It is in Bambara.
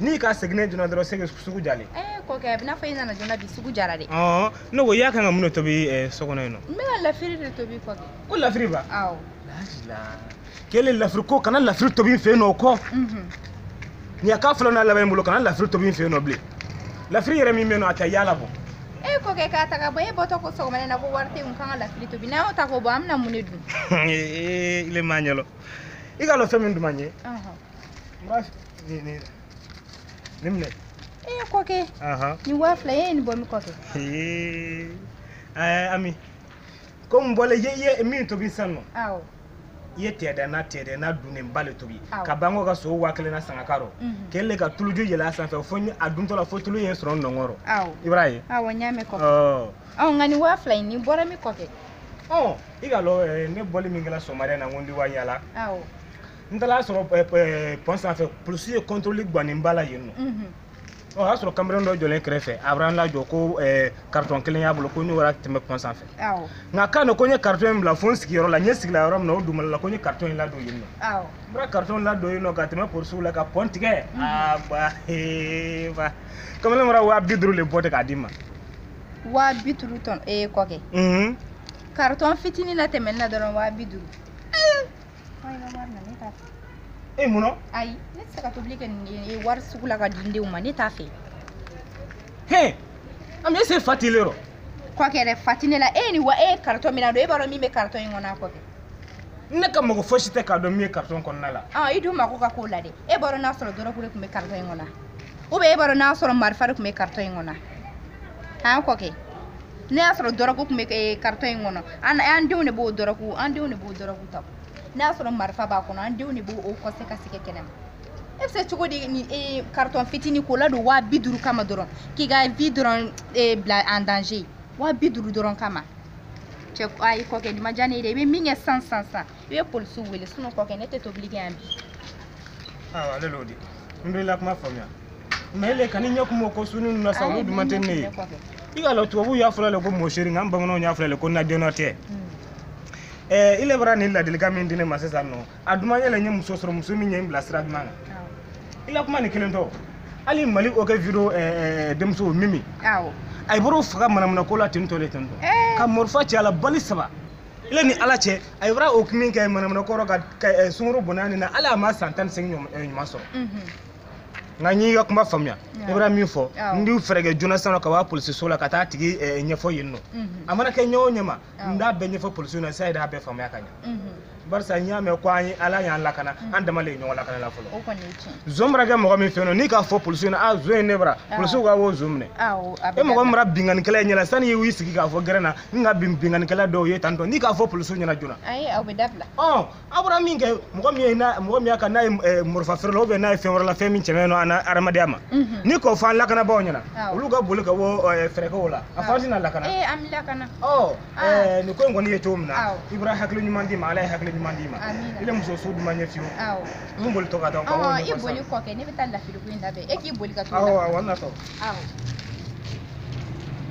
n'i ka seginne joona dɔrɔn sege sugu jalen eh, kɔkɛ a bɛna fɔ i nana joona bi sugu jara dɛ ne ko i y'a kan ka mun de tobi eh, so kɔnɔ yen nɔ n bɛ ka lafiri de tobi kɔkɛ ko lafiri ba awɔ kelen lafiri ko kana lafiri tobi n fɛ yen nɔ o kɔ mhm. nin k'a fɔlɔ n'a laban in bolo kana lafiri tobi n fɛ yen nɔ bilen lafiri yɛrɛ min bɛ yen nɔ a ta y'a labɔ e kɔkɛ k'a ta ka bɔ e bɔtɔ ko sɔgɔmada na ko wari t'i kun kan ka lafiri tobi n'an y'o ta k'o bɔ an bɛna mun de dun ee ile m'a ɲa lɔn i k'a lɔn fɛn min duman n ɲɛ Murasi, ni ni ni minɛ e ye kɔkɛ ahan nin waa fila e ye nin bɔ min kɔkɛ Ee, ɛɛ Ami komi bɔle ye i ye min tobi sisan nɔ awɔ i ye tɛɛdɛ na tɛɛdɛ na dunnenba le tobi Awɔ. ka ban ka sogo waa kelen na san k'a k'a rɔ Mhm. kelen ka tuluju yɛlɛ a sanfɛ fo ni a duntɔ la fo tulu ye sɔrɔ nɔnkɔn rɔ awɔ i bar'a ye awɔ n y'a mɛn kɔkɛ ɔ ɔ nka nin waa fila in nin bɔra min kɔkɛ ɔ i k'a lɔn ɛɛ, ne bɔli min kɛra sɔgɔmada in na n ko n di wa yaala awɔ n taara y'a sɔrɔ eh, eh, pɔn sanfɛ polisiw ye kɔntɔrɔli gannen ba la yen nɔ mhm. o y'a sɔrɔ kamalen dɔ jɔlen kɛrɛfɛ a bara n lajɔ ko karitɔn eh, kelen y'a bolo ko n'o wara tɛmɛ pɔn sanfɛ nka kan don ko n ye karitɔn in bila fo n sigiyɔrɔ la n ye sigila yɔrɔ min na o duumala la ko n ye karitɔn in ladon yen nɔ n bara karitɔn in ladon yen nɔ ka tɛmɛ polisiw la ka pɔn tigɛ mhm. aa ba ee ba kamalen bara waa bi duuru le bɔ ten k'a di n ma waa bi duuru tɔn ee kɔkɛ mhm. karitɔn fitinin natɛmɛni na dɔrɔn waa bi duuru e mun na ayi ne tɛ se ka tobili kɛ nin wari sugu la k'a di n denw ma ne t'a fɛ he Ami ɛsi fa t'ile rɔ kɔkɛ dɛ fa tɛ ne la e ye nin wa e ye karitɔn min nadon e b'a dɔn min bɛ karitɔn in kɔnɔ a kɔkɛ ne ka mako fosi tɛ k'a dɔn min ye karitɔn kɔnɔna la ɔ i dun mako ka k'o la dɛ e b'a dɔn n'a sɔrɔ dɔrɔgu de tun bɛ karitɔn in kɔnɔ ou bien e b'a dɔn n'a sɔrɔ marifa de tun bɛ karitɔn in kɔnɔ an kɔkɛ n'i y'a sɔrɔ dɔrɔgu tun bɛ eh, karitɔn in kɔnɔ an an denw de b'o dɔrɔgu an denw de b'o dɔrɔgu ta n'i y'a sɔrɔ marifa b'a kɔnɔ an denw de b'o o kɔse ka sɛgɛ kɛnɛ ma e bɛ se cogo di ni eh, karitɔn fitinin k'o ladon waa bi duuru kama dɔrɔn k'i ka vie dɔrɔn eh, bila en danger waa bi duuru dɔrɔn kama cɛ ayi kɔkɛ nin ma diya ne ye dɛ i bɛ min kɛ sisan sisan sisan i ye polisiw wele sinɔn kɔkɛ ne tɛ tobili kɛ yan bi awa ale l'o di n dɔ i la kuma faamuya mɛ ile ka ni ɲɛ kun b'o ko suni ninnu na sa olu duman tɛ ne ye i k'a lɔn tubabuw y'a fɔla le ko mon chéri nka an bamananw y'a fɔla le ko najɔnɔ tɛ i le bara nin ladilikan min di ne ma sisan nɔ a duman yɛrɛ n ye muso sɔrɔ muso min ye n bila sira duman kan i la kuma nin kelen tɔ hali mali o kɛ video denmuso mimi a ye bɔr'o faga manamanako la ten tɔ le ten tɔ ka mɔrifa ci a la bali saba ile ni ala cɛ a ye bara o min kɛ manamana kɔrɔ ka eh, sunkuru bonya nin na ala ma san tan ni seegin eh, ɲuman sɔrɔ mhm. nka n y'i ka kuma faamuya i bara min fɔ n b'i fɛɛrɛ kɛ joona sisan ka wa polisiso la ka t'a tigi eh, ɲɛfɔ yen nɔ mhm. a mana kɛ ɲɛ o ɲɛ ma n b'a bɛɛ ɲɛfɔ polisiw na sisan yɛrɛ y'a bɛɛ faamuya ka ɲɛ mhm. barisa n y'a mɛn ko yanni ala y'an lakana mm. an dama de ye ɲɔgɔn lakana la fɔlɔ zon bara kɛ mɔgɔ min fɛ yen nɔ n'i k'a fɔ polisiw na a zon ye ne bara polisiw ka o zon minɛ e mɔgɔ min bara binkannikɛla ye ɲɛna sanni y'i sigi k'a fɔ gɛrɛn na n ka bin binkannikɛla dɔ ye tantɔ n'i k'a fɔ polisiw ɲɛna joona ayi aw bɛ dabila ɔ a bara min kɛ mɔgɔ min ye n'a mɔgɔ min y'a ka n'a ye eh, mɔrɔfa feere la ubiyɛn n'a ye fɛn wɛrɛ la fɛn min cɛmɛ nɔ an na hadamadenya ma Mhm. n'i k'o fɔ an lakanabaaw ɲɛna Awɔ. olu ka boli ka wa eh, fɛɛrɛ kɛ o la a fɔ an tɛna lakana ee an bɛ lakana ɔ Ah. eh, nin ko in kɔni ye cogo min na Awɔ. i bara hakili ɲuman di n ma ala ye hakili ɲuman d'i ma Amina. i le muso su duman ɲɛ fiyewu awɔ n boli tɔ ka taa ka ɔɔ i ɲɛfɔ boli sisan. kɔkɛ ne bɛ taa lafiliku in labɛn e k'i boli ka t'o awɔ la awɔ n natɔ awɔ